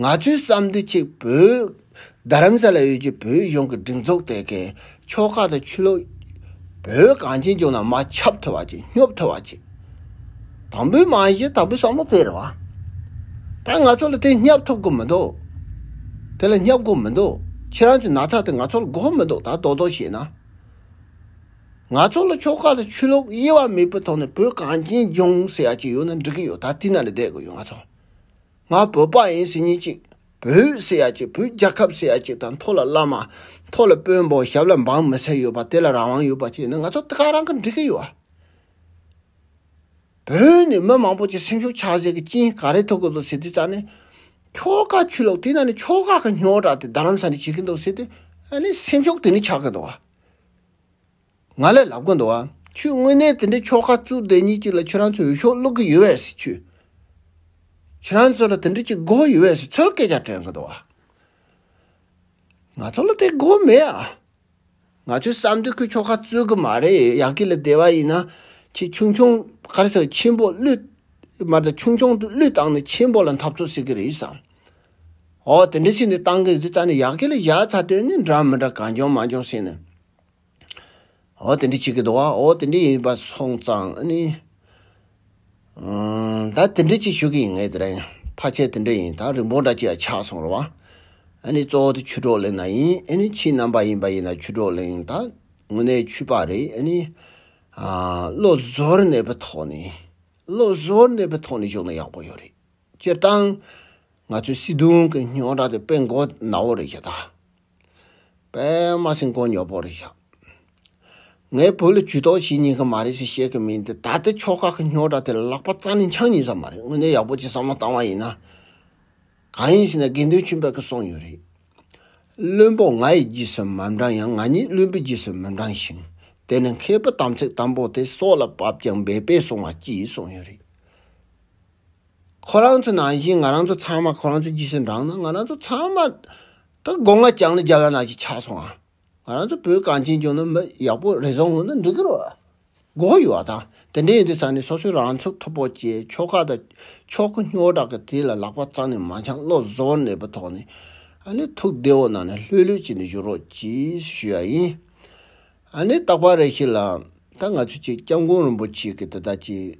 ང་ཚོའི་བསམ་འདུན་གཅིག་བོད་རྡ་རམ་ས་ལ་ཡུལ་གྱི་བོད་གཞུང་གི་སྒྲིག་འཛུགས་དེ་གའི་ཆོལ་ཁ་དང་ཆོས་ལུགས། བོད་གངས་ཅན་ལྗོངས་ནང་མ་ཁྱབ་ཐུབ་པ་ཅིག་སྙོབ་ཐུབ་པ་ཅིག། དང་པོའི་རྨང་གཞི་དང་པོའི་བསམ་བློ་དེ་རེད་བ། ད་ང་ཚོ་ལ་དེ་སྙབ་ཐུབ་དགོས་མི་འདུག་དེ་ལ་སྙབ་དགོས་མི་འདུག་ཁྱེད་རང་ཚོའི་ན་ཚ་དེ་ང་ཚོ་ལ་དགོས་མི་འདུག་ད་དོ་དོ་བྱས་ན། ང་ཚོ་ལ་ཆོལ་ཁ་དང་ཆོས་ལུགས་དབྱེ་བ་མེད་པའི་ཐོག་ནས་བོད་གངས་ཅན་ལྗོངས་ཟེར་ཡ་གཅིག་ཡོད་ན་འགྲིག་གི་ཡོད་ད་དེ་ན་ལ་བསྡད་དགོས་ཡོད་ང་ཚོ། ང་བོད་པ་ཡིན་ཟེར་ཉིན་གཅིག། བོད་སེ་ཡ་གཅིག་བོད་རྒྱལ་ཁབ་སེ་ཡ་གཅིག་དང་མཐོ་ལ་བླ་མ། མཐོ་ལ་དཔོན་པོ་ཞབས་ལ་འབངས་མི་སེ་ཡོད་པ་དེ་ལ་རང་དབང་ཡོད་པ་བཅས་ནི་ང་ཚོ་དེ་ག་རང་གིས་འགྲིག་གི་ཡོད། བོད་ནས་མི་མང་པོ་ཅིག་སེམས་ཤུགས་ཆགས་ཟེར་གི་ཅིན་ག་རེ་ཐུག་གི་འདུག་ཟེར་དུས་ཙང་ནི། ཁྱོ་ག་ཆུ་ལོག་དེ་ན་ནི་ཁྱོ་ག་གི་སྨྱོ་དྲག་དེ་རྡ་རམ་ས་ནས་བྱེད་ཀྱི་འདུག་ཟེར་དུས་ཨ་ནི་སེམས་ཤུགས་དེ་ནི་ཆགས་གི་འདུག། ང་ལས་ལབ་གོ་འདུག་ཨ། ཁྱོད་དངོས་གནས་དེ་འདྲའི་ཕྱོགས་ཁ་བཙུགས་དེ་གཉིས་ཅིག་ལ་ཁྱོད་རང་ཚོས་འོས་ཤོག་བླུག་གི་ཡོད་བས་སེ་ཁྱོད། ཁྱོད་རང་ཚོ་ལ་དེ་འདྲའི་ཅིག་དགོས་ཡོད་བས་སེ་ཚོད་སྐད་ཆ་དྲན་གི་འདུག་ཨ། ང་ཚོ་ལ་དེ་དགོས་མེད་ཨ། ང་ཚོའི་བསམ་དོན་ཁོས་ཕྱོགས་ཁ་བཙུགས་གི་མ་རེད་ཡག་གི་ལ་བདེ་བ་ཡིན་ན་ཁྱོད་ཆུང་ཆུང་དཀར་ཟེར་ཆེན་པོ་བླུས། མར་ད་ཆུང་ཆུང་དུ་བླུས་བཏང་ནས་ཆེན་པོ་ལ་འཐབ་རྩོད་བྱེད་གི་རེད་བསམ། འོ་དེ་འདྲའི་ཆེ་འདི་བཏང་གི་ཡོད་དུས་ད་ནི་ཡག་གི་ལ་བཞག་ཚར་དོན་ནི་འདྲ་མི་འདྲ་གང་བྱུང་མ་བྱུང་ཟེར་ནས། འོ་དེ་འདྲའི་ཆེ་གེ་འདུག་བ་འོ་དེ་འདྲའི་ཡིན་པ་སོང་ཙང་ཨ་ནི། ད་དེ་འདྲའི་ཅིག་ཞུ་གི་ཡིན་ངེས་དེ་རིང་ཕ་ཆེ་དེ་འདྲའི་ཡིན་ད་རིན་པོ་འདྲ་ཅིག་ཡ་ཆགས་སོང་རོ་བ་ཨ་ནི་གཙོ་བོ་དེ་ཆུ་གྲོགས་གླེང་ན་ཡིན་ཨ་ནི་ཁྱིའི་རྣམ་པ་ཡིན་པ་ཡིན་ན་ཆུ་གྲོགས་གླེང་ད་དངོས་གནས་ཆུ་པ་རེད་ཨ་ནི། བློ་བཟོར་གནས་པའི་ཐོག་ནས་བློ་བཟོར་གནས་པའི་ཐོག་ནས་བཞུགས་ན་ཡག་པོ་ཡོད་རེད་སྤྱིར་བཏང་ང་ཚོའི་སྲིད་དུང་གི་རྙོག་དྲ་དེ་སྤེལ་མགོ་ནའོ་རེད་ཀྱི་ད། པདྨ་སེང་གོང་ཉོག་པོ་རེད་བཞག། ངའི་བོད་ལ་ཇུས་གཏོགས་བྱེད་སྙིང་གི་མ་རེད་ཟེར་བཤད་གི་མིན་ཏེ་ད་ལྟའི་ཕྱོགས་ཁག་གི་སྨྱོ་དྲ་དེ་ལ་ལག་པ་རྩ་ནས་འཆང་ཉེ་ས་མ་རེད་དངོས་གནས་ཡག་པོ་གྱི་བསམ་བློ་བཏང་བ་ཡིན་ན། གང་ཡིན་ཟེར་ན་དགེ་འདུན་ཆོས་འཕེལ་གི་གསུངས་ཡོད་རེད། བླུན་པོ་ང་ཡི་རྗེས་སུ་མ་འབྲང་ཡང་ང་ཉིད་བླུན་པོའི་རྗེས་སུ་མི་འབྲང་ཞིང་དེ་ནི་མཁས་པོ་དམ་ཚིག་དམ་པོ་དེ་སྲོག་ལ་བབས་ཀྱང་འབད་པས་བསྲུང་བ་གྱིས་གསུངས་ཡོད་རེད། ཁོ་རང་ཚོ་ནང་བཞིན་ང་རང་ཚོ་ཚང་མ་ཁོ་རང་ཚོའི་རྗེས་སུ་འབྲང་ན་ང་རང་ཚོ་ཚང་མ་ད་སྒོ་ང་རྐྱང་ལ་རྒྱབ་ཡ་ན་ཅིག་ཆགས་སོང་ང་རང་ཚོ་བོད་གངས་ཅན་ལྗོངས་ན་མི་ཡག་པོ་རེ་ཟུང་ཡོད་ན་འགྲིག་གི་རེད། མགོ་བོ་ཡོད་དང་དེ་འདྲས་ཡོད་དུས་ས་ནས་སོ་སོའི་རང་ཚུགས་ཐོབ་པོ་བྱས་ཆོག་ཁ་དང་ཆོག་གི་སྨྱོ་དྲག་གི་དེ་ལ་ལག་པ་བཙག་ནས་མ་འཆང་བློ་བཟོ་བོར་གནས་པའི་ཐོག་ནས་ཨ་ནེ་ཐུགས་བདེ་བོ་གནང་ནས་ལྷོད་ལྷོད་བྱས་ནས་བཞུགས་རོགས་ཅེས་ཞུ་ཡ་ཡིན། ཨ་ནེ་རྟག་པར་རེ་ཞིག་ལ་ད་ང་ཚོས་ཅིག་སྐྱབས་མགོན་རིན་པོ་ཆེ་གི་དེ་དག་ཅིག